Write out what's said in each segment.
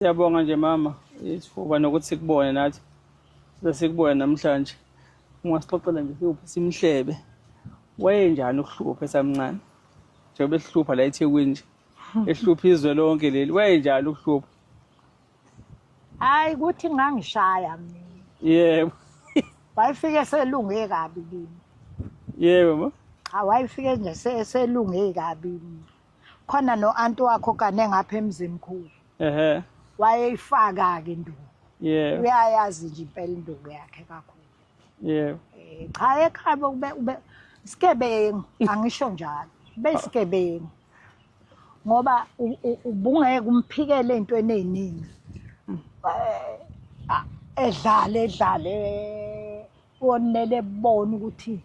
Siyabonga nje mama isifuba nokuthi sikubone nathi size sikubone namhlanje ungasixoxela nje siwuphi simhlebe wayenjani ukuhlupha esamncane njengoba esihlupha la ethekwini nje ehlupha izwe lonke leli wayenjani ukuhlupha hayi kuthi ngangishaya mina yebo wayefike selunge kabi kimi yebo ma awayefike nje selunge kabi mina khona no anti wakho kane ngapha emzimkhulu ehe wayeyifaka ke induku yeah uyayazi nje impela induku yakhe kakhulu yeah eh, cha ekhaya ube ube sikebengu angisho njalo besikebengu ngoba ubungeke umphikele into eneningi eh, edlale edlale wonele bona ukuthi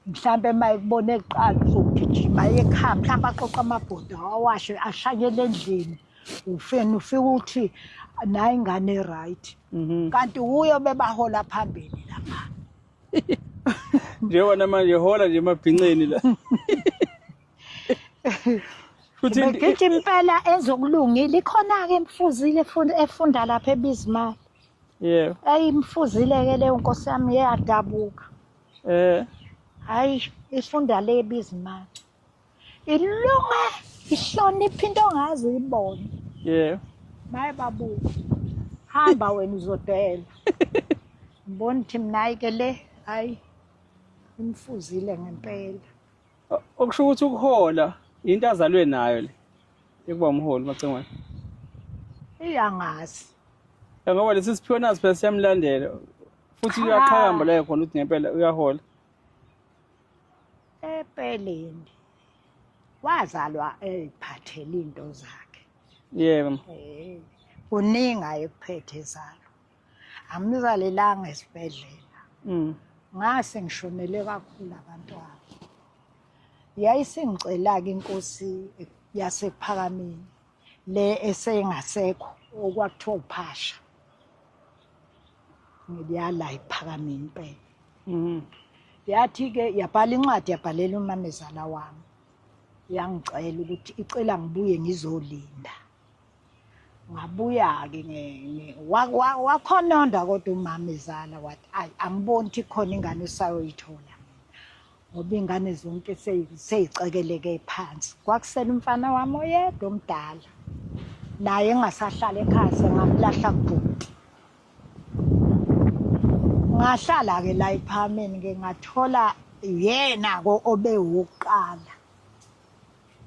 mhlawumbe uma ekubona ekuqala uzogijima ekhaya mhlawumbe aqoqa amabhoda awashe ashanyele endlini ufeni ufike ukuthi nayi ingane e-right mhm. kanti wuyo bebahola phambili lapha njengona manje hola nje emabhinceni la futhi ngithi impela ezokulungile ikhona ke imfuzile efunda lapha ebizimali yebo ayimfuzile ke leyo nkosi yami yeyadabuka Eh. Hayi, ifunda le bizimali. Ilunga ihlonipha into ongazi uyibone. Yeah. Maye babu. Hamba wena uzodela. Mbona ukuthi mina ke le hayi imfuzile ngempela. okusho ukuthi ukuhola into azalwe nayo le yokuba umholi macengwane iyangazi ngoba lesi siphiwo nazi phela siyamlandela futhi uyaqhakamba layo khona ukuthi ngempela uyahola empeleni wazalwa eyiphathele into zakhe yebo eh, kuningi ayekuphethe zalo angimzalelanga esibhedlela mm. ngase ngishonele kakhulu abantwana yayisingicela-ke inkosi yasephakameni le esengasekho okwakuthiwa uphasha ngiyala iphakameni impela mm. yathi-ke yabhala incwadi yabhalela umamezala wami yangicela ukuthi icela ngibuye ngizolinda ngabuya-ke wakhononda kodwa umama izala wathi ayi angiboni ukuthi khona ingane usayoyithola ngoba iy'ngane zonke sey'cekeleke phansi kwakusele umfana wami oyedwa omdala naye engasahlala ekhaya sengamlahla kubhuti ngahlala-ke la ephameni-ke ngathola yena-ko obe wukuqala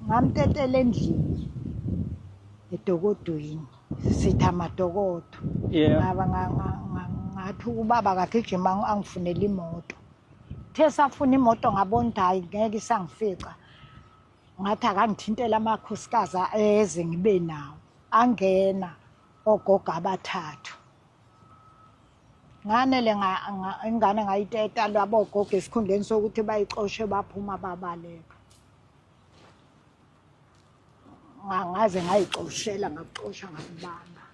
ngamtetela endlini edokodweni sithi amadokodo ngaba ngathi ubaba kagijima angifunele imoto the safuna imoto ngabona ukuthi hhayi ngeke isangifica ngathi akangithintela amakhosikazi eze ngibe nawo angena ogogo abathathu nganele ingane ngayiteta lwabogogo esikhundleni sokuthi bayixoshe baphuma babaleka ngaze ngayixoshela ngakuxosha ngakubamba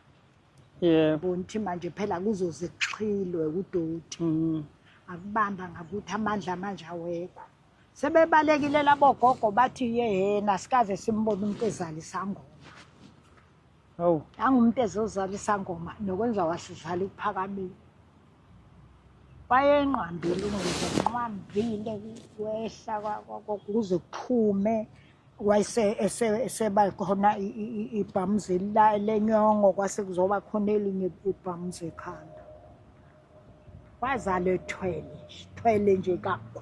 yebo ngithi manje phela kuzoze kuxhilwe kudoti mm. akubamba ngakuthi amandla manje awekho sebebalekile labogogo bathi yehena sikaze simbone umuntu ezala isangoma Hawu. Angumuntu ezozala isangoma nokwenza wasidlala iphakamile. Wayenqambile umuntu enqambile wehla kwakuze kuphume wayese eseba khona ibhamuzi lenyongo kwase kuzoba khona elinye ibhamuzi ekhanda. Wazala ethwele, ethwele nje kakhulu.